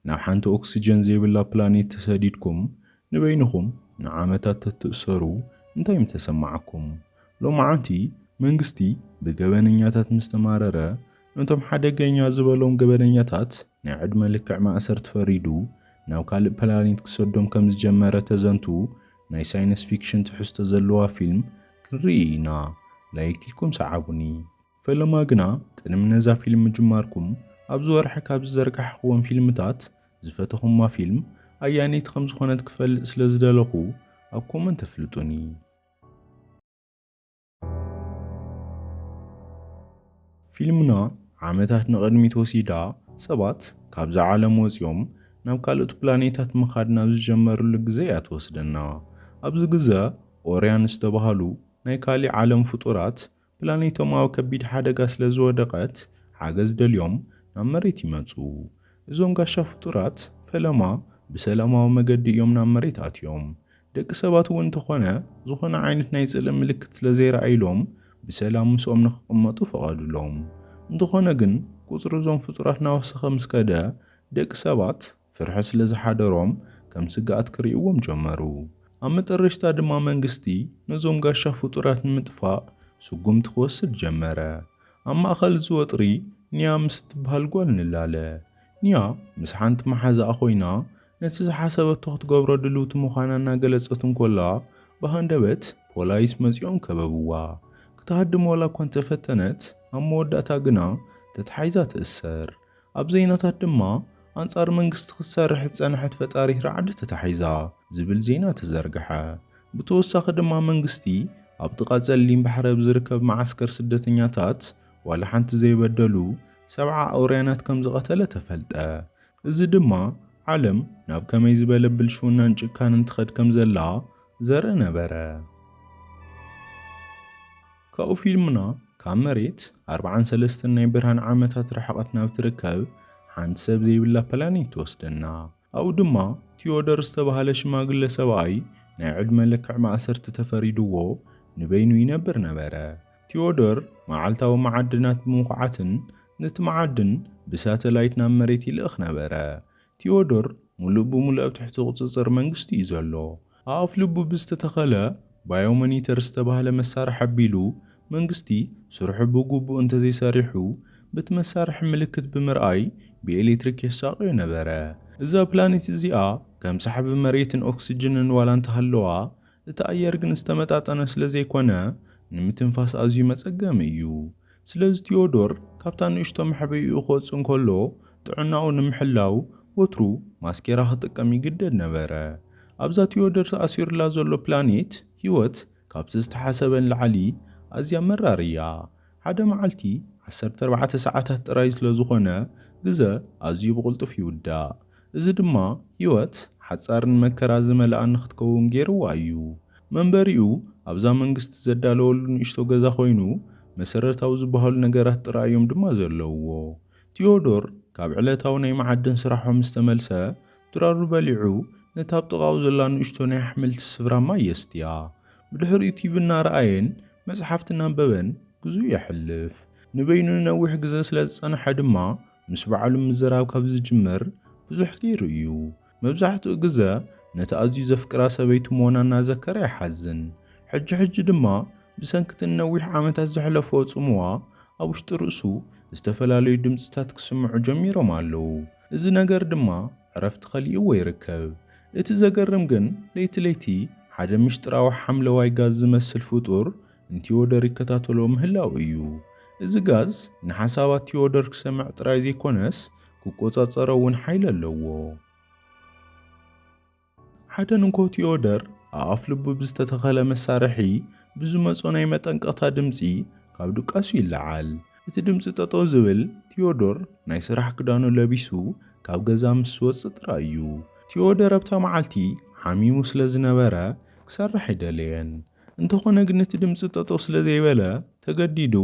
ናብ ሓንቲ ኦክስጀን ዘይብላ ፕላኔት ተሰዲድኩም ንበይንኹም ንዓመታት ተትእሰሩ እንታይ ምተሰማዓኩም? ሎምዓንቲ መንግስቲ ብገበነኛታት ምስ ተማረረ ነቶም ሓደገኛ ዝበሎም ገበነኛታት ናይ ዕድመ ልክዕ ማእሰርቲ ፈሪዱ ናብ ካልእ ፕላኔት ክሰዶም ከም ዝጀመረ ተዘንቱ ናይ ሳይነስ ፊክሽን ትሕዝቶ ዘለዋ ፊልም ክንርኢ ኢና ላይክ ኢልኩም ሰዓቡኒ። ፈለማ ግና ቅድሚ ነዛ ፊልም ምጅማርኩም ኣብዚ ወርሒ ካብ ዝዘርጋሕክወን ፊልምታት ዝፈተኹማ ፊልም ኣያነይቲ ከም ዝኾነት ክፈልጥ ስለ ዝደለኹ ኣብ ኮመንት ኣፍልጡኒ። ፊልምና ዓመታት ንቕድሚት ወሲዳ ሰባት ካብዛ ዓለም ወጺኦም ናብ ካልኦት ፕላኔታት ምኻድ ናብ ዝጀመርሉ ግዘ እያ ትወስደና። ኣብዚ ግዘ ኦርያን ዝተባህሉ ናይ ካሊእ ዓለም ፍጡራት ፕላኔቶም ኣብ ከቢድ ሓደጋ ስለ ዝወደቐት ሓገዝ ደልዮም ናብ መሬት ይመጹ። እዞም ጋሻ ፍጡራት ፈለማ ብሰላማዊ መገዲ እዮም ናብ መሬት ኣትዮም። ደቂ ሰባት እውን እንተኾነ ዝኾነ ዓይነት ናይ ጽልኢ ምልክት ስለ ዘይረኣዩሎም ብሰላም ምስኦም ንክቕመጡ ፈቐዱሎም። እንተኾነ ግን ቁጽሪ እዞም ፍጡራት እናወሰኸ ምስ ከደ ደቂ ሰባት። ፍርሒ ስለ ዝሓደሮም ከም ስግኣት ክርእይዎም ጀመሩ። ኣብ መጠረሽታ ድማ መንግስቲ ነዞም ጋሻ ፍጡራት ንምጥፋእ ስጉምቲ ክወስድ ጀመረ። ኣብ ማእኸል እዚ ወጥሪ ኒያ ምስ እትብሃል ጓል ንላለ። ኒያ ምስ ሓንቲ መሓዛኣ ኮይና ነቲ ዝሓሰበቶ ክትገብሮ ድልውቲ ምዃና እናገለጸት እንኮላ ብሃንደበት ፖላይስ መጺኦም ከበብዋ። ክትሃድም ዋላኳ እንተፈተነት ኣብ መወዳእታ ግና ተታሒዛ ትእሰር። ኣብ ዜናታት ድማ ኣንጻር መንግስቲ ክትሰርሕ ዝጸንሐት ፈጣሪት ራዕዲ ተታሒዛ ዝብል ዜና ተዘርግሐ። ብተወሳኺ ድማ መንግስቲ ኣብ ጥቓ ጸሊም ባሕሪ ኣብ ዝርከብ መዓስከር ስደተኛታት ዋላ ሓንቲ ዘይበደሉ ሰብዓ ኣውርያናት ከምዝቐተለ ተፈልጠ። እዚ ድማ ዓለም ናብ ከመይ ዝበለ ብልሽውናን ጭካነን ትኸድ ከምዘላ ዘርኢ ነበረ። ካብኡ ፊልምና ካብ መሬት ኣርብዓን ሰለስተን ናይ ብርሃን ዓመታት ርሕቐት ናብ ትርከብ ሓንቲ ሰብ ዘይብላ ፕላኔት ትወስደና። ኣብኡ ድማ ቲዮዶር ዝተባህለ ሽማግለ ሰብኣይ ናይ ዕድመ ልክዕ ማእሰርቲ ተፈሪድዎ ንበይኑ ይነብር ነበረ። ቲዮዶር መዓልታዊ መዓድናት ብምኹዓትን ነቲ መዓድን ብሳተላይት ናብ መሬት ይልእኽ ነበረ። ቲዮዶር ምሉእ ብምሉእ ኣብ ትሕቲ ቁጽጽር መንግስቱ'ዩ ዘሎ። ኣብ ኣፍልቡ ብዝተተኸለ ባዮሞኒተር ዝተባህለ መሳርሒ ኣቢሉ መንግስቲ ስርሑ ብግቡእ እንተዘይሰሪሑ በቲ መሳርሒ ምልክት ብምርኣይ ብኤሌክትሪክ የሳቕዮ ነበረ። እዛ ፕላኔት እዚኣ ከም ሳሕቢ መሬትን ኦክስጅንን ዋላ እንተሃለዋ እቲ ኣየር ግን ዝተመጣጠነ ስለዘይኮነ ንምትንፋስ ኣዝዩ መፀገሚ እዩ። ስለዚ ቲዮዶር ካብታ ንእሽቶ መሕበይኡ ክወጽእ እንከሎ ጥዕናኡ ንምሕላው ወትሩ ማስኬራ ክጥቀም ይግደድ ነበረ። ኣብዛ ቲዮዶር ተኣሲሩላ ዘሎ ፕላኔት ህይወት ካብቲ ዝተሓሰበ ንላዕሊ ኣዝያ መራር እያ። ሓደ መዓልቲ ዓሰርተ ኣርባዕተ ሰዓታት ጥራይ ስለዝኾነ ግዘ ኣዝዩ ብቕልጡፍ ይውዳእ። እዚ ድማ ህይወት ሓጻርን መከራ ዝመልኣን ንኽትከውን ገይርዋ እዩ። መንበሪኡ ኣብዛ መንግስቲ ዘዳለወሉ ንእሽቶ ገዛ ዀይኑ፣ መሰረታዊ ዝበሃሉ ነገራት ጥራይ እዮም ድማ ዘለዉዎ። ቲዮዶር ካብ ዕለታዊ ናይ መዓድን ስራሑ ምስ ተመልሰ፣ ድራሩ በሊዑ ነታ ኣብ ጥቓኡ ዘላ ንእሽቶ ናይ ኣሕምልቲ ስፍራ ማይ የስትያ። ብድሕሪኡ ቲቪ እናረኣየን መጽሓፍቲ እናንበበን ግዜኡ የሕልፍ። ንበይኑ ንነዊሕ ግዜ ስለ ዝጸንሐ ድማ፣ ምስ ባዕሉ ምዝራብ ካብ ዝጅምር ብዙሕ ገይሩ እዩ። መብዛሕትኡ ግዘ ነቲ ኣዝዩ ዘፍቅራ ሰበይቱ ምዋና እናዘከረ ይሓዝን። ሕጂ ሕጂ ድማ ብሰንኪ'ቲ ንነዊሕ ዓመታት ዘሕለፎ ጽምዋ ኣብ ውሽጢ ርእሱ ዝተፈላለዩ ድምጺታት ክስምዑ ጀሚሮም ኣለዉ። እዚ ነገር ድማ ዕረፍቲ ከሊእዎ ይርከብ። እቲ ዘገርም ግን ለይቲ ለይቲ ሓደ ምስጢራዊ ሓምለዋይ ጋዝ ዝመስል ፍጡር ንቲዮደር ይከታተሎ ምህላው እዩ። እዚ ጋዝ ንሓሳባት ቲዮደር ክሰምዕ ጥራይ ዘይኮነስ ክቆጻጸሮ እውን ሓይሊ ኣለዎ። ሓደ ንግሆ ቲዮደር ኣብ ኣፍልቡ ብዝተተኸለ መሳርሒ ብዝመጾ ናይ መጠንቀቕታ ድምጺ ካብ ድቃሱ ይለዓል። እቲ ድምጺ ጠጠው ዝብል ቲዮዶር ናይ ስራሕ ክዳኑ ለቢሱ ካብ ገዛ ምስ ዝወጽእ ጥራይ እዩ። ቲዮደር ኣብታ መዓልቲ ሓሚሙ ስለ ዝነበረ ክሰርሕ ኣይደለየን። እንተኾነ ግን እቲ ድምጺ ጠጠው ስለ ዘይበለ ተገዲዱ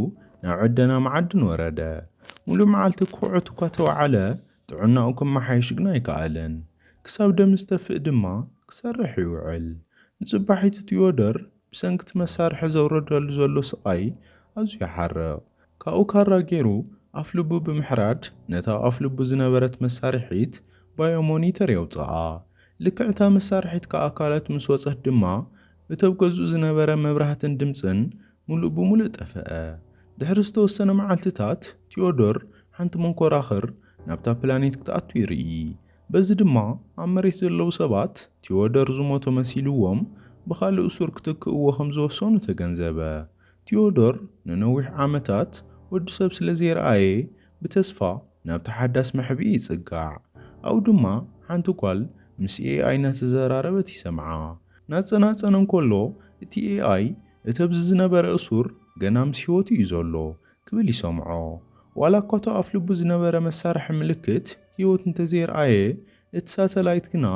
ናብ ዕደና መዓድን ወረደ። ሙሉእ መዓልቲ ክኹዕት እኳ ተወዓለ ጥዕናኡ ክመሓየሽ ግን ኣይከኣለን። ክሳብ ደም ዝተፍእ ድማ ክሰርሕ ይውዕል። ንጽባሒቱ ቲዮዶር ብሰንኪ እቲ መሳርሒ ዘውርደሉ ዘሎ ስቓይ ኣዝዩ ይሓርቕ። ካብኡ ካራ ጌሩ ኣፍልቡ ብምሕራድ ነታ ኣብ ኣፍልቡ ዝነበረት መሳርሒት ባዮ ሞኒተር የውጽኣ። ልክዕ እታ መሳርሒት ካብ ኣካላቱ ምስ ወጸት ድማ እቲ ኣብ ገዝኡ ዝነበረ መብራህትን ድምጽን ምሉእ ብምሉእ ጠፍኣ። ድሕሪ ዝተወሰነ መዓልትታት፣ ቲዮዶር ሓንቲ መንኮራኹር ናብታ ፕላኔት ክትኣቱ ይርኢ። በዚ ድማ ኣብ መሬት ዘለዉ ሰባት ቲዮዶር ዝሞተ መሲልዎም ብኻልእ እሱር ክትክእዎ ከም ዝወሰኑ ተገንዘበ። ቲዮዶር ንነዊሕ ዓመታት ወዲ ሰብ ስለ ዘይረኣየ ብተስፋ ናብቲ ሓዳስ መሕብኢ ይጽጋዕ። ኣብኡ ድማ ሓንቲ ጓል ምስ ኤኣይ እናተዘራረበት ይሰምዓ። እናጸናጸነ እንከሎ እቲ ኤኣይ እቲ ኣብዚ ዝነበረ እሱር ገና ምስ ህይወቱ እዩ ዘሎ ክብል ይሰምዖ። ዋላ እኳ እቲ ኣፍልቡ ዝነበረ መሳርሒ ምልክት ህይወት እንተዘየርኣየ፣ እቲ ሳተላይት ግና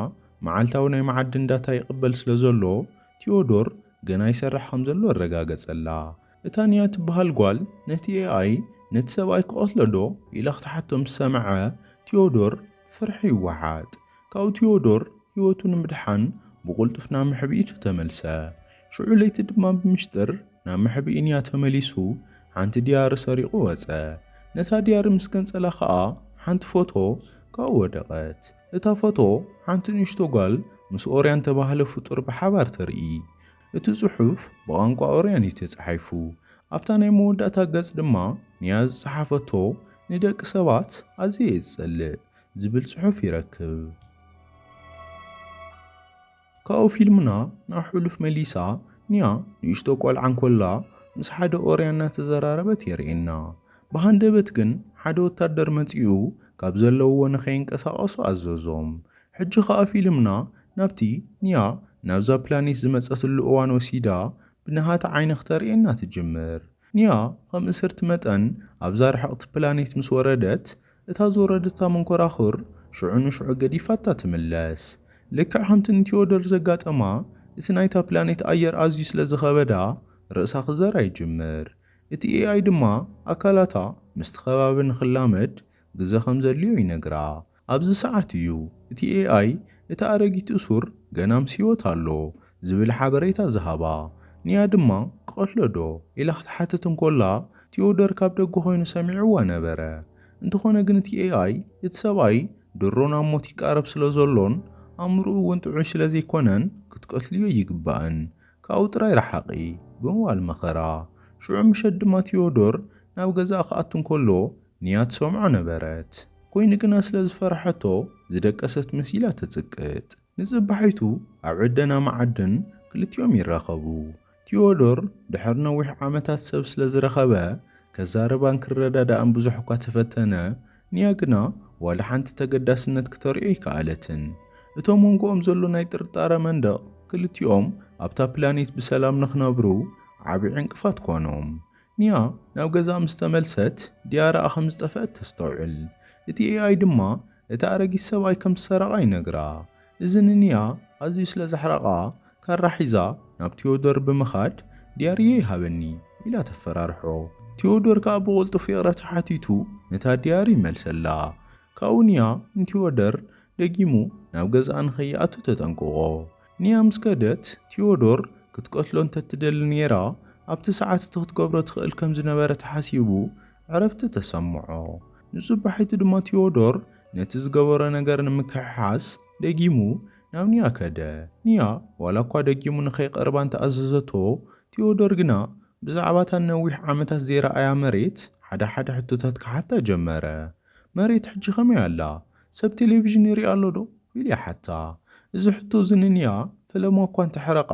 መዓልታዊ ናይ መዓድን ዳታ ይቕበል ስለዘሎ፣ ቲዮዶር ገና ይሰርሕ ከምዘሎ ኣረጋገጸላ። እታ ኒያ ትበሃል ጓል ነቲ ኤኣይ ነቲ ሰብኣይ ክቐትሎ ዶ? ኢላ ክትሓቶ ምስ ሰምዐ ቲዮዶር ፍርሒ ይወሓጥ። ካብኡ ቲዮዶር ህይወቱ ንምድሓን ብቕልጡፍ ናብ መሕብኢቱ ተመልሰ። ሽዑ ለይቲ ድማ ብምሽጥር ናብ መሕብኢ ኒያ ተመሊሱ ሓንቲ ድያሪ ሰሪቑ ወጸ። ነታ ድያሪ ምስ ገንጸላ ከኣ ሓንቲ ፎቶ ካብኡ ወደቐት። እታ ፎቶ ሓንቲ ንእሽቶ ጓል ምስ ኦርያን እተባህለ ፍጡር ብሓባር ተርኢ። እቲ ጽሑፍ ብቛንቋ ኦርያን እዩ ተጻሒፉ። ኣብታ ናይ መወዳእታ ገጽ ድማ ኒያ ዝጸሓፈቶ ንደቂ ሰባት ኣዝየ እየ ዝጸልእ ዝብል ጽሑፍ ይረክብ። ካብኡ ፊልምና ናብ ሕሉፍ መሊሳ ኒያ ንእሽቶ ቆልዓ እንኮላ ምስ ሓደ ኦርያን እናተዘራረበት የርእየና። ብሃንደበት ግን ሓደ ወታደር መጺኡ ካብ ዘለውዎ ንኸይንቀሳቐሱ ኣዘዞም። ሕጂ ከኣ ፊልምና ናብቲ ንያ ናብዛ ፕላኔት ዝመጸትሉ እዋን ወሲዳ ብነሃታ ዓይኒ ክተርእየና ትጅምር። ንያ ከም እስርቲ መጠን ኣብዛ ርሕቕቲ ፕላኔት ምስ ወረደት እታ ዝወረደታ መንኮራኹር ሽዑ ንሽዑ ገዲፋታ ትምለስ። ልክዕ ከምቲ ንቲዮዶር ዘጋጠማ እቲ ናይታ ፕላኔት ኣየር ኣዝዩ ስለ ዝኸበዳ ርእሳ ክዘራ ይጅምር። እቲ ኤኣይ ድማ ኣካላታ ምስቲ ከባቢ ንኽላመድ ግዘ ከም ዘድልዮ ይነግራ። ኣብዚ ሰዓት እዩ እቲ ኤኣይ እታ ኣረጊት እሱር ገና ምስ ህይወት ኣሎ ዝብል ሓበሬታ ዝሃባ። ኒያ ድማ ክቐትሎ ዶ? ኢላ ክትሓትት እንኮላ ቲዮዶር ካብ ደገ ኮይኑ ሰሚዕዋ ነበረ። እንተኾነ ግን እቲ ኤኣይ እቲ ሰብኣይ ድሮ ናብ ሞት ይቃረብ ስለ ዘሎን ኣእምርኡ እውን ጥዑይ ስለ ዘይኮነን ክትቀትልዮ ኣይግባእን ካብኡ ጥራይ ረሓቒ ብምባል መኸራ። ሽዑ ምሸት ድማ ቲዮዶር ናብ ገዛኣ ክኣቱ እንከሎ ንያ ትሰምዖ ነበረት። ኮይኑ ግና ስለ ዝፈርሐቶ ዝደቀሰት መሲላ ተጽቅጥ። ንጽባሒቱ ኣብ ዕደና መዓድን ክልቲኦም ይራኸቡ። ቲዮዶር ድሕሪ ነዊሕ ዓመታት ሰብ ስለ ዝረኸበ ከዛርባን ክረዳዳእን ብዙሕ እኳ ተፈተነ፣ ንያ ግና ዋላ ሓንቲ ተገዳስነት ክተርእዮ ኣይከኣለትን። እቶም መንጎኦም ዘሎ ናይ ጥርጣረ መንደቕ ክልቲኦም ኣብታ ፕላኔት ብሰላም ንክነብሩ ዓቢ ዕንቅፋት ኮኖም። ኒያ ናብ ገዛኣ ምስ ተመልሰት፣ ዲያራኣ ከም ዝጠፍአት ተስተውዕል። እቲ ኤኣይ ድማ እቲ ኣረጊት ሰብኣይ ከም ዝሰረቓ ይነግራ። እዚ ንኒያ ኣዝዩ ስለ ዘሕረቓ፣ ካራ ሒዛ ናብ ቲዮዶር ብምኻድ ዲያሪየይ ሃበኒ ኢላ ተፈራርሖ። ቲዮዶር ከኣ ብቕልጡፍ ይቕረታ ሓቲቱ ነታ ዲያሪ ይመልሰላ። ካብኡ ኒያ ንቲዮዶር ደጊሙ ናብ ገዛኣ ንኸይኣቱ ተጠንቅቖ። ንያ ምስ ከደት፣ ቲዮዶር ክትቀትሎ እንተትደሊ ነይራ፣ ኣብቲ ሰዓት እቲ ክትገብሮ ትኽእል ከም ዝነበረት ሓሲቡ ዕረፍቲ ተሰምዖ። ንጽባሒቱ ድማ ቲዮዶር ነቲ ዝገበሮ ነገር ንምክሕሓስ ደጊሙ ናብ ንያ ከደ። ንያ ዋላ እኳ ደጊሙ ንኸይቀርባ እንተ ኣዘዘቶ፣ ቲዮዶር ግና ብዛዕባ እታ ንነዊሕ ዓመታት ዘይረኣያ መሬት ሓደ ሓደ ሕቶታት ክሓታ ጀመረ። መሬት ሕጂ ከመይ ኣላ? ሰብ ቴሌቪዥን ይርኢ ኣሎ ዶ? ኢሉ ይሓታ። እዚ ሕቶ እዚ ንንያ ፈለማ እኳ እንተ ሕረቓ፣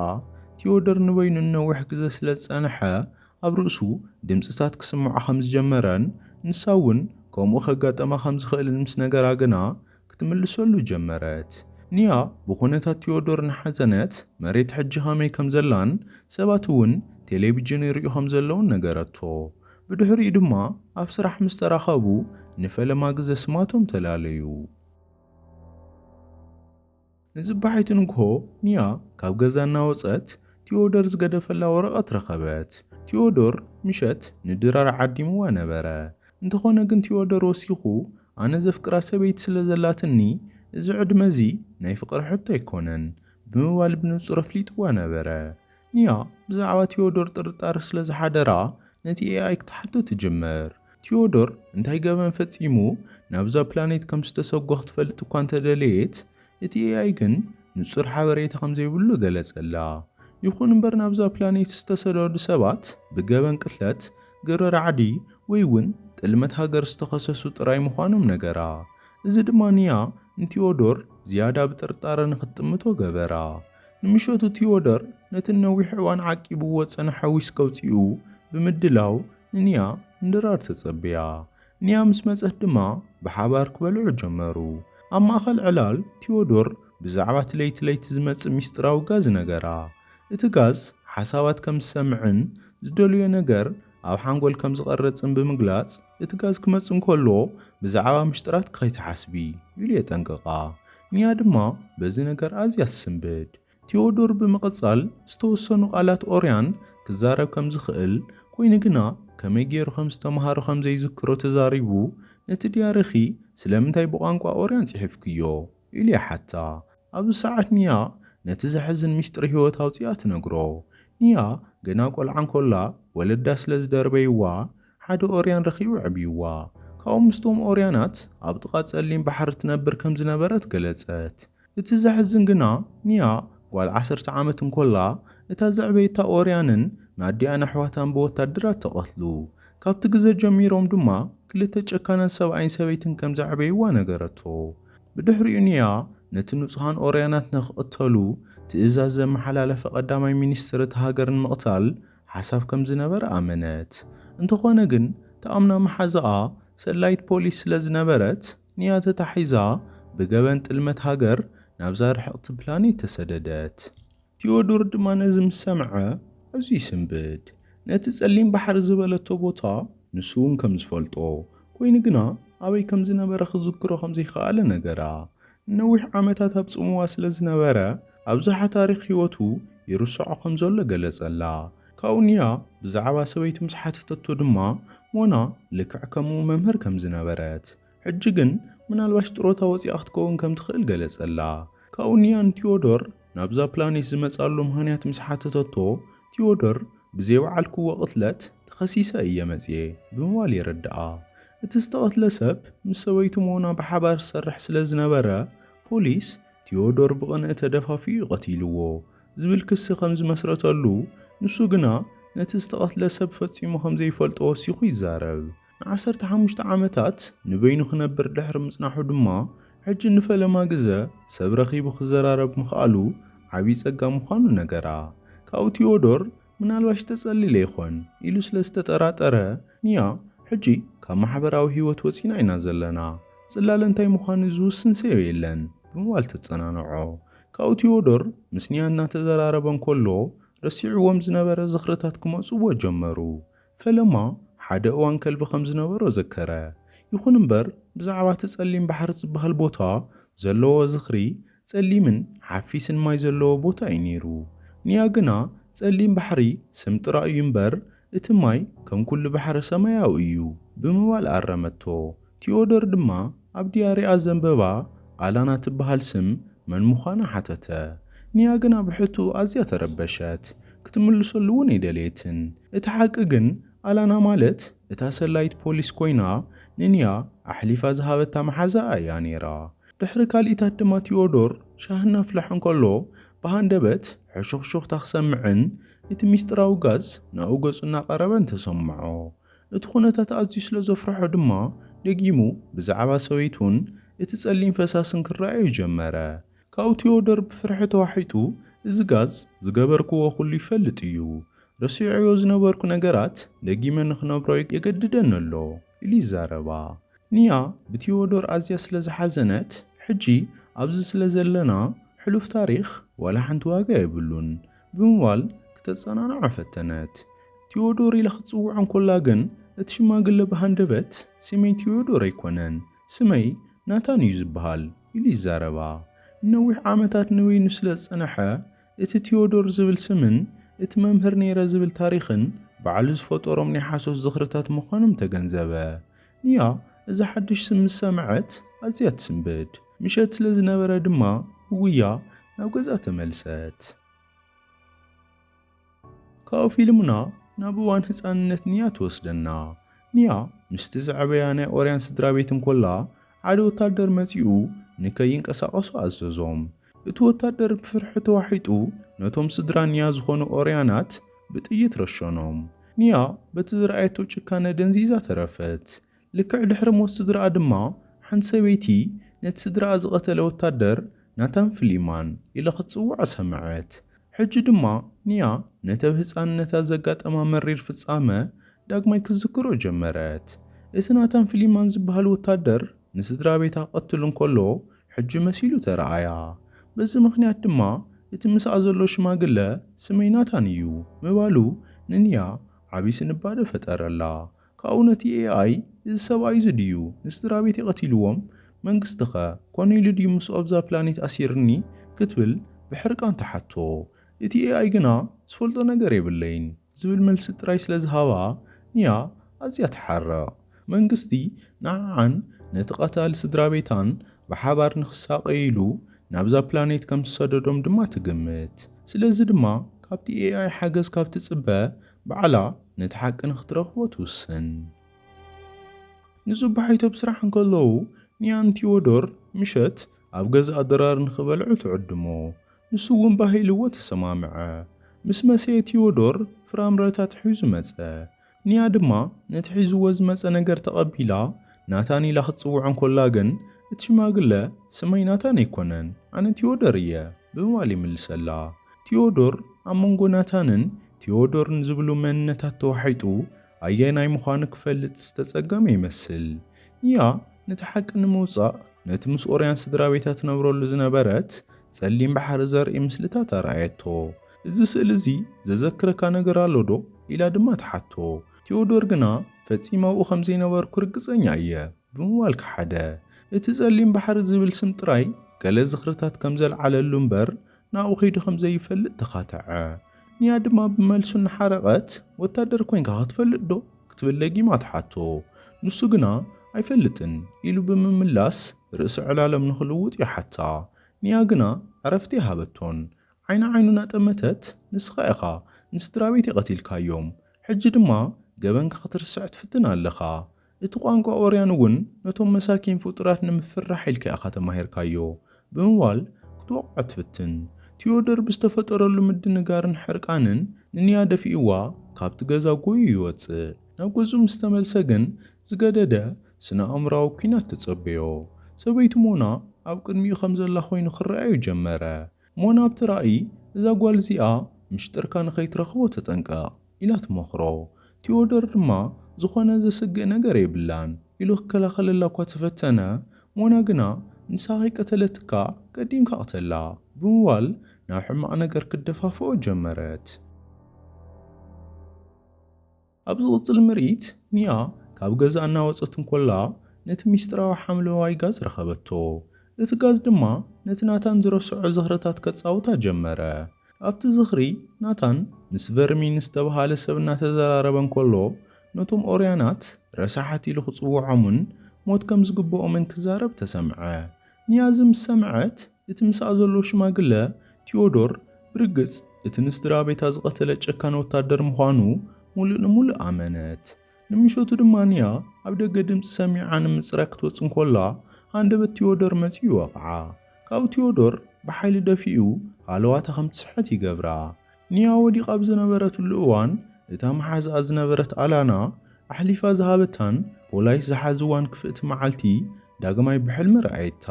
ቲዮዶር ንበይኑ ንነዊሕ ግዘ ስለ ዝጸንሐ ኣብ ርእሱ ድምጽታት ክስምዖ ከም ዝጀመረን ንሳ እውን ከምኡ ከጋጠማ ከም ዝኽእልን ምስ ነገራ ግና ክትምልሰሉ ጀመረት። ንያ ብኩነታት ቲዮዶር እናሓዘነት መሬት ሕጂ ከመይ ከም ዘላን ሰባት እውን ቴሌቪዥን ይርእዩ ከም ዘለዉን ነገረቶ። ብድሕሪኡ ድማ ኣብ ስራሕ ምስ ተራኸቡ ንፈለማ ግዘ ስማቶም ተላለዩ። ንፅባሒቱ ንግሆ ኒያ ካብ ገዛ እናወፀት ቲዎዶር ዝገደፈላ ወረቐት ረኸበት። ቲዎዶር ምሸት ንድራር ዓዲምዋ ነበረ። እንተኾነ ግን ቲዎዶር ወሲኹ ኣነ ዘፍቅራ ሰበይቲ ስለ ዘላትኒ እዚ ዕድመ እዚ ናይ ፍቕሪ ሕቶ ኣይኮነን ብምባል ብንፁር ኣፍሊጥዋ ነበረ። ኒያ ብዛዕባ ቲዮዶር ጥርጣረ ስለ ዝሓደራ ነቲ ኤኣይ ክትሓቶ ትጅምር። ቲዮዶር እንታይ ገበን ፈጺሙ ናብዛ ፕላኔት ከም ዝተሰጎ ክትፈልጥ እኳ እንተ ደለየት፣ እቲ ኤኣይ ግን ንጹር ሓበሬታ ከም ዘይብሉ ገለጸላ። ይኹን እምበር ናብዛ ፕላኔት ዝተሰደዱ ሰባት ብገበን ቅትለት፣ ግብረ ራዕዲ ወይ እውን ጥልመት ሃገር ዝተኸሰሱ ጥራይ ምዃኖም ነገራ። እዚ ድማ ኒያ ንቲዮዶር ዝያዳ ብጥርጣረ ንኽትጥምቶ ገበራ። ንምሸቱ ቲዮደር ነቲ ንነዊሕ እዋን ዓቂቡዎ ዝጸንሐ ዊስኪ ኣውጺኡ ብምድላው ንኒያ ንድራር ተጸበያ። ኒያ ምስ መጸት ድማ ብሓባር ክበልዑ ጀመሩ። ኣብ ማእከል ዕላል ቲዮዶር ብዛዕባ እቲ ለይቲ ለይቲ ዝመጽእ ምስጢራዊ ጋዝ ነገራ። እቲ ጋዝ ሓሳባት ከም ዝሰምዕን ዝደልዮ ነገር ኣብ ሓንጎል ከም ዝቐርጽን ብምግላጽ፣ እቲ ጋዝ ክመጽእ እንከሎ ብዛዕባ ምሽጥራትኪ ከይትሓስቢ ኢሉ የጠንቅቓ። ኒያ ድማ በዚ ነገር ኣዝያ ትስንብድ። ቲዮዶር ብምቕጻል ዝተወሰኑ ቃላት ኦርያን ክዛረብ ከም ዝኽእል፣ ኰይኑ ግና ከመይ ገይሩ ከም ዝተማሃሮ ከም ዘይዝክሮ ተዛሪቡ፣ ነቲ ድያሪኺ ስለምንታይ ብቋንቋ ኦርያን ጽሒፍክዮ? ኢሉ ይሓታ። ኣብዚ ሰዓት ኒያ ነቲ ዘሕዝን ምስጢር ህይወት ኣውጺኣ ትነግሮ። ኒያ ገና ቆልዓ እንኮላ ወለዳ ስለ ዝደርበይዋ ሓደ ኦርያን ረኺቡ ኣዕብይዋ። ካብኡ ምስቶም ኦርያናት ኣብ ጥቓ ጸሊም ባሕሪ ትነብር ከም ዝነበረት ገለጸት። እቲ ዘሕዝን ግና ኒያ ጓል ዓሰርተ ዓመት እንኮላ እታ ዘዕበየታ ኦርያንን ንኣዲኣን ኣሕዋታን ብወታደራት ተቐትሉ። ካብቲ ግዘ ጀሚሮም ድማ ክልተ ጨካናት ሰብኣይን ሰበይትን ከም ዘዕበይዋ ነገረቶ። ብድሕሪኡ ኒያ ነቲ ንጹሃን ኦርያናት ንክቕተሉ ትእዛዝ ዘመሓላለፈ ቀዳማይ ሚኒስትር እታ ሃገር ንምቕታል ሓሳብ ከም ዝነበረ ኣመነት። እንተኾነ ግን ትኣምና መሓዛኣ ሰላዪት ፖሊስ ስለ ዝነበረት ኒያ ተታሒዛ ብገበን ጥልመት ሃገር ናብዛ ርሕቕቲ ፕላኔት ተሰደደት። ቴዎዶር ድማ ነዚ ምስ ሰምዐ ኣዝዩ ይስንብድ። ነቲ ጸሊም ባሕሪ ዝበለቶ ቦታ ንሱውን ከም ዝፈልጦ፣ ኰይኑ ግና ኣበይ ከም ዝነበረ ክዝክሮ ከም ዘይከኣለ ነገራ። ንነዊሕ ዓመታት ኣብ ጽምዋ ስለ ዝነበረ ኣብዝሓ ታሪኽ ህይወቱ ይርስዖ ከም ዘሎ ገለጸላ። ካብኡ ንያ ብዛዕባ ሰበይቱ ምስ ሓተተቶ ድማ ሞና ልክዕ ከምኡ መምህር ከም ዝነበረት፣ ሕጂ ግን ምናልባሽ ጥሮታ ወጺኣ ክትከውን ከም ትኽእል ገለጸላ። ካብኡ ንያን ቲዮዶር ናብዛ ፕላኔት ዝመጽኣሉ ምኽንያት ምስ ሓተተቶ፣ ቲዮዶር ብዘይበዓልክዎ ቅትለት ተኸሲሰ እየ መጺኤ ብምባል የረድኣ። እቲ ዝተቐትለ ሰብ ምስ ሰበይቱ ሞና ብሓባር ዝሰርሕ ስለ ዝነበረ፣ ፖሊስ ቲዮዶር ብቕንኢ ተደፋፊኡ እዩ ቀቲልዎ ዝብል ክሲ ከም ዝመስረተሉ፣ ንሱ ግና ነቲ ዝተቐትለ ሰብ ፈጺሙ ከም ዘይፈልጦ ወሲኹ ይዛረብ። ንዓሰርተ ሓሙሽተ ዓመታት ንበይኑ ክነብር ድሕሪ ምጽናሑ ድማ ሕጂ ንፈለማ ግዘ ሰብ ረኺቡ ክዘራረብ ምኽኣሉ ዓብዪ ጸጋ ምዃኑ ነገራ። ካብኡ ቲዮዶር ምናልባሽ ተጸሊለ ይኾን ኢሉ ስለ ዝተጠራጠረ፣ ንያ ሕጂ ካብ ማሕበራዊ ህይወት ወጺና ኢና ዘለና፣ ጽላለ እንታይ ምዃኑ ዝውስን ሰብ የለን ብምባል ተጸናንዖ። ካብኡ ቲዮዶር ምስ ንያ እናተዘራረበ እንከሎ ረሲዑዎም ዝነበረ ዝኽርታት ክመጽኡዎ ጀመሩ። ፈለማ ሓደ እዋን ከልቢ ኸም ዝነበሮ ዘከረ። ይኹን እምበር፣ ብዛዕባ እቲ ጸሊም ባሕሪ ዚብሃል ቦታ ዘለዎ ዝኽሪ፣ ጸሊምን ሓፊስን ማይ ዘለዎ ቦታ እዩ ነይሩ። ንያ ግና፣ ጸሊም ባሕሪ ስም ጥራይ እዩ እምበር፣ እቲ ማይ ከም ኵሉ ባሕሪ ሰማያዊ እዩ ብምባል ኣረመቶ። ቲዮዶር ድማ ኣብ ድያሪኣ ዘንበባ ኣላና ትበሃል ስም መን ምዃና ሓተተ። ኒያ ግና ብሕቶኡ ኣዝያ ተረበሸት፣ ክትምልሰሉ እውን ኣይደለየትን። እቲ ሓቂ ግን ኣላና ማለት እታ ሰላዪት ፖሊስ ኰይና ንኒያ ኣሕሊፋ ዝሃበታ መሓዛኣ እያ ነይራ። ድሕሪ ካልኢታት ድማ ቲዮዶር ሻሂ እናፍልሐ እንከሎ ብሃንደበት ሕሹኽሹኽታ ክሰምዕን እቲ ምስጢራዊ ጋዝ ናብኡ ገጹ እናቐረበን ተሰምዖ። እቲ ዅነታት ኣዝዩ ስለ ዘፍርሖ ድማ፣ ደጊሙ ብዛዕባ ሰበይቱን እቲ ጸሊም ፈሳስን ክረኣዮ ጀመረ። ካብኡ ቲዮዶር ብፍርሒ ተዋሒጡ፣ እዚ ጋዝ ዝገበርክዎ ዅሉ ይፈልጥ እዩ። ረሲዐዮ ዝነበርኩ ነገራት ደጊመ ንኽነብሮ የገድደኒ ኣሎ ኢሉ ይዛረባ። ኒያ ብቲዮዶር ኣዝያ ስለ ዝሓዘነት፣ ሕጂ ኣብዚ ስለ ዘለና ሕሉፍ ታሪኽ ዋላ ሓንቲ ዋጋ የብሉን፣ ብምባል ክተጸናንዖ ፈተነት። ቲዮዶር ኢላ ክትጽውዖ እንከላ ግን፣ እቲ ሽማግለ ብሃንደበት፣ ስመይ ቲዮዶር ኣይኰነን፣ ስመይ ናታን እዩ ዝበሃል፣ ኢሉ ይዛረባ። ንነዊሕ ዓመታት ንበይኑ ስለ ዝጸንሐ፣ እቲ ቲዮዶር ዝብል ስምን እቲ መምህር ነይረ ዝብል ታሪኽን ባዕሉ ዝፈጠሮም ናይ ሓሶት ዝኽርታት ምዃኖም ተገንዘበ። ኒያ እዛ ሓድሽ ስም ምስ ሰምዐት ኣዝያ ትስንብድ። ምሸት ስለ ዝነበረ ድማ ብጉያ ናብ ገዝኣ ተመልሰት። ካብኡ ፊልምና ናብ እዋን ህጻንነት ኒያ ትወስደና። ኒያ ምስቲ ዝዐበያ ናይ ኦርያን ስድራቤት እንኮላ፣ ሓደ ወታደር መጺኡ ንከይንቀሳቐሱ ኣዘዞም። እቲ ወታደር ብፍርሒ ተዋሒጡ ነቶም ስድራ ኒያ ዝኾኑ ኦርያናት ብጥይት ረሸኖም። ኒያ በቲ ዝረኣየቶ ጭካነ ደንዚዛ ተረፈት። ልክዕ ድሕሪ ሞት ስድራኣ ድማ ሓንቲ ሰበይቲ ነቲ ስድራኣ ዝቐተለ ወታደር ናታን ፍሊማን ኢላ ክትጽውዖ ሰምዐት። ሕጂ ድማ ኒያ ነቲ ኣብ ህጻንነታ ዘጋጠማ መሪር ፍጻመ ዳግማይ ክትዝክሮ ጀመረት። እቲ ናታን ፍሊማን ዝበሃል ወታደር ንስድራቤታ ክቐትል እንከሎ ሕጂ መሲሉ ተራኣያ። በዚ ምኽንያት ድማ እቲ ምስኣ ዘሎ ሽማግለ ስመይ ናታን እዩ ምባሉ ንኒያ ዓቢ ስንባደ ፈጠረላ። ካብኡ ነቲ AI እዚ ሰብኣይ'ዚ ድዩ ንስድራቤተይ ቀቲልዎም? መንግስቲ'ኸ ኮነ ኢሉ ድዩ ምስኡ ኣብዛ ፕላኔት ኣሲርኒ? ክትብል ብሕርቃን ትሓቶ። እቲ AI ግና ዝፈልጦ ነገር የብለይን ዝብል መልሲ ጥራይ ስለ ዝሃባ ኒያ ኣዝያ ትሓርቕ። መንግስቲ ንዓኣን ነቲ ቀታሊ ስድራቤታን ብሓባር ንኽሳቐዩ ኢሉ ናብዛ ፕላኔት ከም ዝሰደዶም ድማ ትግምት። ስለዚ ድማ ካብቲ ኤኣይ ሓገዝ ካብ ትጽበ ባዕላ ነቲ ሓቂ ንኽትረኽቦ ትውስን። ንጽባሒቱ ኣብ ስራሕ እንከለዉ ንያን ቲዎዶር ምሸት ኣብ ገዛኣ ድራር ንኽበልዑ ትዕድሞ። ንሱ እውን ባህ ኢልዎ ተሰማምዐ። ምስ መሰየ ቲዎዶር ፍራምረታት ሒዙ መጸ። ኒያ ድማ ነቲ ሒዙዎ ዝመጸ ነገር ተቐቢላ ናታን ኢላ ክትጽውዖ እንኮላ ግን እቲ ሽማግለ ስመይ ናታን ኣይኮነን ኣነ ቲዮዶር እየ ብምባል ይምልሰላ። ቲዮዶር ኣብ መንጎ ናታንን ቲዮዶርን ዝብሉ መንነታት ተዋሒጡ ኣየናይ ምዃኑ ክፈልጥ ዝተጸገመ ይመስል። ኒያ ነቲ ሓቂ ንምውጻእ ነቲ ምስ ኦርያን ስድራቤታ ትነብረሉ ዝነበረት ጸሊም ባሕሪ ዘርኢ ምስልታት ኣርኣየቶ። እዚ ስእሊ እዚ ዘዘክረካ ነገር ኣሎ ዶ? ኢላ ድማ ትሓቶ። ቴዎዶር ግና ፈጺመ ኣብኡ ከም ዘይነበርኩ ርግጸኛ እየ ብምባል ከሓደ። እቲ ጸሊም ባሕሪ ዝብል ስም ጥራይ ገለ ዝኽርታት ከም ዘልዓለሉ እምበር ናብኡ ከይዱ ከም ዘይፈልጥ ተኻተዐ። ኒያ ድማ ብመልሱ እናሓረቐት ወታደር ኮይንካ ክትፈልጥ ዶ? ክትብል ደጊማ ትሓቶ። ንሱ ግና ኣይፈልጥን ኢሉ ብምምላስ ርእሰ ዕላሎም ንኽልውጥ ይሓታ። ኒያ ግና ዕረፍቲ ኣይሃበቶን። ዓይኒ ዓይኑ እናጠመተት፣ ንስኻ ኢኻ ንስድራቤተይ ቀቲልካዮም፣ ሕጂ ድማ ገበንካ ክትርስዕ ትፍትን ኣለኻ። እቲ ቋንቋ ኦርያን እውን ነቶም መሳኪን ፍጡራት ንምፍርራሕ ኢልካ ኢኻ ተማሂርካዮ፣ ብምባል ክትወቕዖ ትፍትን። ቲዮዶር ብዝተፈጠረሉ ምድንጋርን ሕርቃንን ንኒያ ደፊእዋ ካብቲ ገዛ ጎዩ ይወጽእ። ናብ ገዝኡ ምስ ተመልሰ ግን ዝገደደ ስነ-ኣእምሮኣዊ ኲናት ተጸበዮ። ሰበይቱ ሞና ኣብ ቅድሚኡ ከም ዘላ ኰይኑ ክረኣዮ ጀመረ። እሞ ናብቲ ራእይ እዛ ጓል እዚኣ ምሽጥርካ ንኸይትረኽቦ ተጠንቀቕ ኢላ ትመኽሮ። ቲዮዶር ድማ ዝኾነ ዘስግእ ነገር የብላን ኢሉ ክከላኸለላ እኳ ተፈተነ፣ ሞና ግና ንሳ ከይቀተለትካ ቀዲምካ ቅተላ ብምባል ናብ ሕማቕ ነገር ክትደፋፍኦ ጀመረት። ኣብ ዝቕጽል ምርኢት፣ ኒያ ካብ ገዛ እናወጸት እንኮላ ነቲ ምስጢራዊ ሓምለዋይ ጋዝ ረኸበቶ። እቲ ጋዝ ድማ ነቲ ናታን ዝረስዖ ዝኽርታት ከጻውታ ጀመረ። ኣብቲ ዝኽሪ፣ ናታን ምስ ቨርሚን ዝተበሃለ ሰብ እናተዘራረበ እንኮሎ፣ ነቶም ኦርያናት ረሳሓት ኢሉ ክጽውዖምን ሞት ከም ዝግብኦምን ክዛረብ ተሰምዐ። ንያዝ ምስ ሰምዐት፣ እቲ ምስኣ ዘሎ ሽማግለ ቲዮዶር ብርግጽ እቲ ንስድራቤታ ዝቐተለ ጨካን ወታደር ምዃኑ ምሉእ ንምሉእ ኣመነት። ንምሸቱ ድማ ንያ ኣብ ደገ ድምጺ ሰሚዓ ንምጽራይ ክትወጽእ እንኮላ ሃንደበት ቲዮዶር መጺኡ ወቕዓ። ካብኡ ቲዮዶር ብሓይሊ ደፊኡ ሃለዋታ ከም ትስሕት ይገብራ። ኒያ ወዲቓ ኣብ ዝነበረትሉ እዋን፣ እታ መሓዝኣ ዝነበረት ኣላና ኣሕሊፋ ዝሃበታን ፖላይስ ዝሓዝዋን ክፍእቲ መዓልቲ ዳግማይ ብሕልሚ ረኣየታ።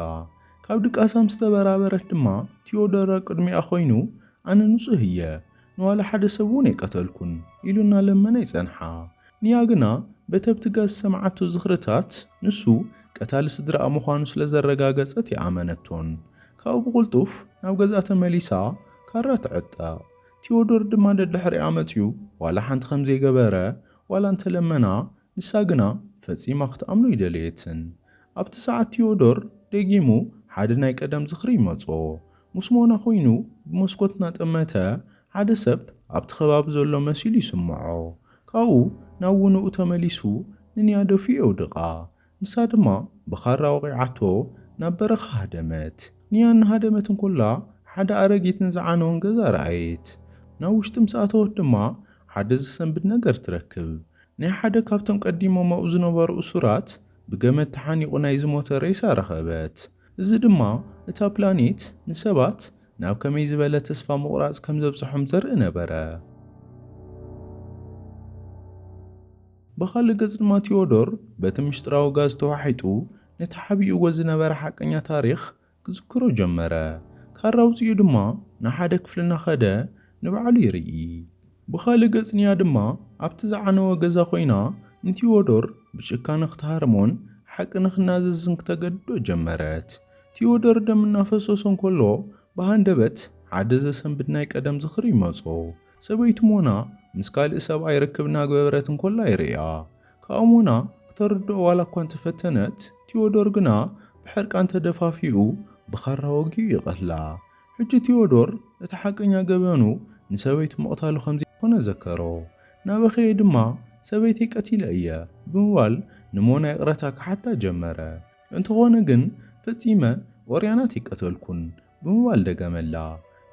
ካብ ድቃሳ ምስ ተበራበረት ድማ፣ ቲዮዶር ኣብ ቅድሚኣ ኮይኑ፣ ኣነ ንጹህ እየ፣ ንዋላ ሓደ ሰብ እውን ኣይቀተልኩን፣ ኢሉ እናለመነ ይጸንሓ። ንያ ግና በተብትጋ ዝሰምዓቶ ዝኽርታት ንሱ ቀታሊ ስድራኣ ምዃኑ ስለ ዘረጋገጸት ኣይኣመነቶን። ካብኡ ብቕልጡፍ ናብ ገዝኣ ተመሊሳ ካራ ትዕጠቕ። ቲዮዶር ድማ ደድሕሪኣ መጺኡ ዋላ ሓንቲ ከም ዘይገበረ ዋላ እንተ ለመና ንሳ ግና ፈጺማ ክትኣምኖ ኣይደለየትን። ኣብቲ ሰዓት ቲዮዶር ደጊሙ ሓደ ናይ ቀደም ዝኽሪ ይመጾ። ምስ ሞና ኮይኑ ብመስኮት እናጠመተ ሓደ ሰብ ኣብቲ ከባቢ ዘሎ መሲሉ ይስምዖ። ካብኡ ናብ ውንኡ ተመሊሱ ንንያ ደፊኡ የውድቓ። ንሳ ድማ ብኻራ ወቒዓቶ ናብ በረኻ ሃደመት። ንያ እናሃደመት እንኮላ ሓደ ኣረጊትን ዝዓነወን ገዛ ረኣየት። ናብ ውሽጢ ምስ ኣተወት ድማ ሓደ ዘሰንብድ ነገር ትረክብ። ናይ ሓደ ካብቶም ቀዲሞም ኣብኡ ዝነበሩ እሱራት ብገመድ ተሓኒቑ ናይ ዝሞተ ሬሳ ረኸበት። እዚ ድማ እታ ፕላኔት ንሰባት ናብ ከመይ ዝበለ ተስፋ ምቑራጽ ከም ዘብጽሖም ዘርኢ ነበረ። ብኻልእ ገጽ ድማ ቲዮዶር በቲ ምስጢራዊ ጋዝ ተዋሒጡ ነቲ ሓቢኡዎ ዝነበረ ሓቀኛ ታሪኽ ክዝክሮ ጀመረ። ካራ ኣውጺኡ ድማ ንሓደ ክፍሊ እናኸደ ንባዕሉ ይርኢ። ብኻልእ ገጽ ኒያ ድማ ኣብቲ ዝዓነወ ገዛ ኮይና ንቲዎዶር ብጭካነ ክትሃርሞን ሓቂ ንኽናዘዝን ክተገድዶ ጀመረት። ቲዎዶር ደም እናፈሰሶ እንከሎ ብሃንደበት ሓደ ዘሰንብድ ናይ ቀደም ዝኽሪ ይመጾ። ሰበይቱ ሞና ምስ ካልእ ሰብኣይ ርክብ እናግበብረት እንከላ ይርእያ። ከኣ ሞና ክተርድኦ ዋላ እኳ እንተፈተነት ቲዎዶር ግና ብሕርቃን ተደፋፊኡ ብኻራ ወጊኡ ይቐትላ። ሕጂ ቴዎዶር እቲ ሓቀኛ ገበኑ ንሰበይቱ ምቕታሉ ከም ዘይኮነ ዘከሮ። እናበኸየ ድማ ሰበይተይ ቀቲለ እየ ብምባል ንሞና ይቕረታ ክሓታ ጀመረ። እንተኾነ ግን ፈጺመ ኦርያና ተይቀተልኩን ብምባል ደገመላ።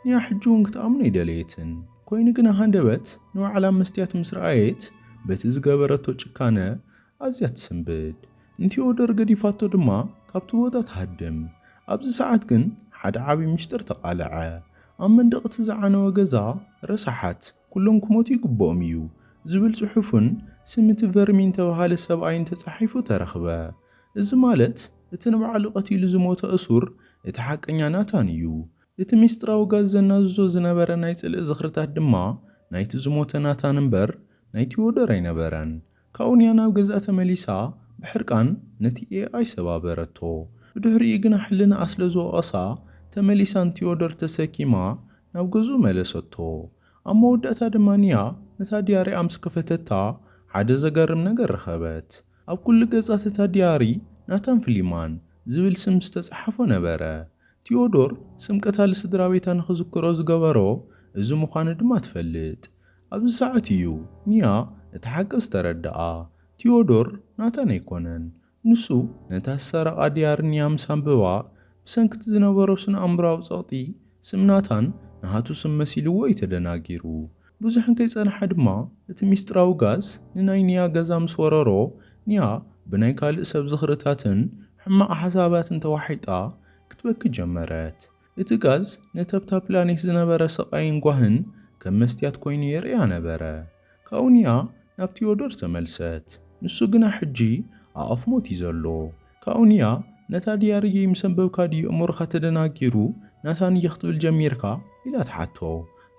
ኒያ ሕጂ'ውን ክትኣምኖ ኣይደለየትን። ኮይኑ ግና ሃንደበት ንባዕላ መስትያት ምስ ረኣየት በቲ ዝገበረቶ ጭካነ ኣዝያ ትስንብድ። ንቲኦዶር ገዲፋቶ ድማ ካብቲ ቦታ ትሃድም። ኣብዚ ሰዓት ግን ሓደ ዓቢ ሚስጢር ተቓለዐ። ኣብ መንደቕ እቲ ዝዓነወ ገዛ ረሳሓት ኩሎም ክሞቱ ይግብኦም እዩ ዝብል ጽሑፍን ስም እቲ ቨርሚን እተባህለ ሰብኣይን ተጻሒፉ ተረኽበ። እዚ ማለት እቲ ንባዕሉ ቀቲሉ ዝሞተ እሱር እቲ ሓቀኛ ናታን እዩ። እቲ ሚስጥራዊ ጋዝ ዘናዝዞ ዝነበረ ናይ ጽልኢ ዝኽርታት ድማ ናይቲ ዝሞተ ናታን እምበር ናይ ቲኦዶር ኣይነበረን። ካብኡ ንያ ናብ ገዝኣ ተመሊሳ ብሕርቃን ነቲ ኤኣይ ሰባበረቶ። ብድሕሪኡ ግና ሕልናኣ ስለ ዝወቐሳ ተመሊሳ ንቲዮዶር ተሰኪማ ናብ ገዝኡ መለሰቶ። ኣብ መወዳእታ ድማ ንያ ነታ ድያሪኣ ምስ ከፈተታ ሓደ ዘገርም ነገር ረኸበት። ኣብ ኩሉ ገጻት እታ ድያሪ ናታን ፍሊማን ዝብል ስም ዝተጻሓፎ ነበረ። ቲዮዶር ስም ቀታሊ ስድራቤታ ንኽዝክሮ ዝገበሮ እዚ ምዃኑ ድማ ትፈልጥ። ኣብዚ ሰዓት እዩ ኒያ እቲ ሓቂ ዝተረደኣ። ቲዮዶር ናታን ኣይኮነን። ንሱ ነታ ዝሰረቓ ድያሪ ኒያ ምስ ኣንበባ፣ ብሰንኪ'ቲ ዝነበሮ ስነ-ኣእምሮኣዊ ጸቕጢ፣ ስም ናታን ናቱ ስም መሲልዎ እዩ ተደናጊሩ። ብዙሕ እንከይጸንሓ ድማ እቲ ሚስጥራዊ ጋዝ ንናይ ኒያ ገዛ ምስ ወረሮ፣ ኒያ ብናይ ካልእ ሰብ ዝኽርታትን ሕማቕ ሓሳባትን ተዋሒጣ ክትበኪ ጀመረት። እቲ ጋዝ ነተብ እታ ፕላኔት ዝነበረ ስቓይን ጓህን ከም መስትያት ኰይኑ የርእያ ነበረ። ካብኡ ኒያ ናብ ቲዮዶር ተመልሰት፣ ንሱ ግና ሕጂ ኣብ ኣፍ ሞት እዩ ዘሎ። ካብኡ ኒያ ነታ ድያሪየይ ምስ ኣንበብካ ድዩ ኣእምሮኻ ተደናጊሩ ናታን'የ ክትብል ጀሚርካ? ኢላ ትሓቶ።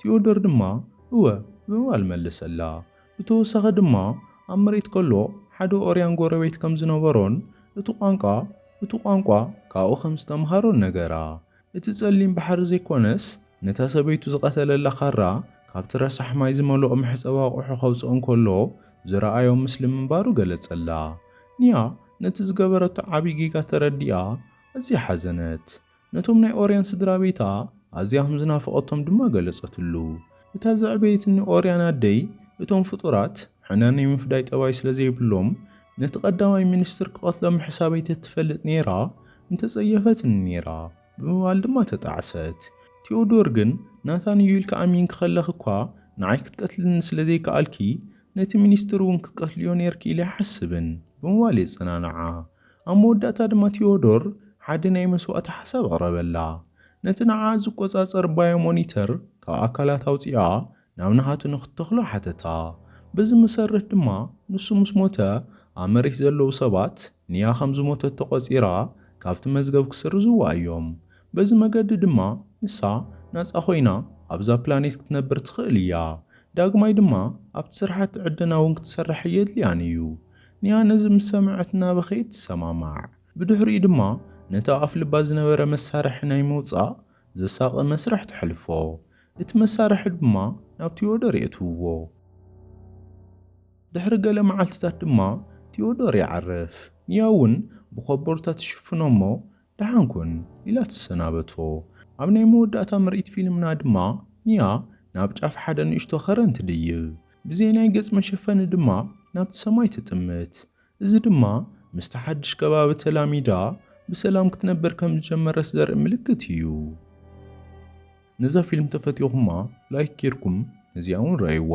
ቲዮዶር ድማ እወ ብምባል መለሰላ። ብተወሳኺ ድማ ኣብ መሬት ከሎ ሓደ ኦርያን ጎረቤት ከም ዝነበሮን እቲ ቋንቋ እቱ ቋንቋ ካብኡ ከም ዝተምሃሮን ነገራ። እቲ ጸሊም ባሕሪ ዘይኮነስ ነታ ሰበይቱ ዝቐተለላ ካራ ካብቲ ረሳሕ ማይ ዝመልኦ መሕጸቢ ኣቑሑ ከውጽኦ እንከሎ ዝረኣዮ ምስሊ ምንባሩ ገለጸላ። ኒያ ነቲ ዝገበረቶ ዓቢ ጌጋ ተረዲኣ ኣዝያ ሓዘነት። ነቶም ናይ ኦርያን ስድራቤታ ኣዝያ ኸም ዝናፈቐቶም ድማ ገለጸትሉ። እታ ዘዕበየትኒ ኦርያን ኣደይ፣ እቶም ፍጡራት ሕነ ናይ ምፍዳይ ጠባይ ስለ ዘይብሎም፣ ነቲ ቀዳማይ ሚኒስትር ክቐትሎ ምሕሳበይ ተትፈልጥ ነይራ፣ ምተጸየፈትኒ ነይራ ብምባል ድማ ተጣዕሰት። ቲዮዶር ግን፣ ናታን እዩ ኢልኪ ኣሚንኪ ኸለኺ እኳ ንዓይ ክትቀትልኒ ስለ ዘይከኣልኪ፣ ነቲ ሚኒስትር እውን ክትቀትልዮ ነይርኪ ኢለ ኣይሓስብን ብምባል የጸናንዓ። ኣብ መወዳእታ ድማ ቲዮዶር ሓደ ናይ መስዋእቲ ሓሳብ ኣቕረበላ። ነቲ ንዓኣ ዝቈጻጸር ባዮ-ሞኒተር ካብ ኣካላት ኣውጺኣ ናብ ናሃቱ ንኽትተኽሎ ሓተታ። በዚ መሰረት ድማ ንሱ ምስ ሞተ ኣብ መሬት ዘለዉ ሰባት ንያ ከም ዝሞተት ተቖጺራ ካብቲ መዝገብ ክስርዝዋ እዮም። በዚ መገዲ ድማ ንሳ ናጻ ኰይና ኣብዛ ፕላኔት ክትነብር ትኽእል እያ። ዳግማይ ድማ ኣብቲ ስራሓቲ ዕደና እውን ክትሰርሕ ኣየድልያን እዩ። ንያ ነዚ ምስ ሰምዐት እናበኸየት ትሰማማዕ። ብድሕሪኡ ድማ ነቲ ኣብ ኣፍ ልባ ዝነበረ መሳርሒ ናይ ምውጻእ ዘሳቒ መስርሕ ተሕልፎ። እቲ መሳርሒ ድማ ናብ ቲዮዶር የእትውዎ። ድሕሪ ገለ መዓልትታት ድማ ቲዮዶር ይዓርፍ። ንያ እውን ብኮቦርታ ትሽፍኖ'ሞ ደሓን ኩን ኢላ ትሰናበቶ። ኣብ ናይ መወዳእታ ምርኢት ፊልምና ድማ ኒያ ናብ ጫፍ ሓደ ንእሽቶ ከረን ትድይብ፣ ብዘይ ናይ ገጽ መሸፈኒ ድማ ናብቲ ሰማይ ትጥምት። እዚ ድማ ምስቲ ሓድሽ ከባቢ ተላሚዳ ብሰላም ክትነብር ከም ዝጀመረት ዘርኢ ምልክት እዩ። ነዛ ፊልም ተፈቲኹማ ላይክ ጌርኩም ነዚኣ ውን ርኣይዋ።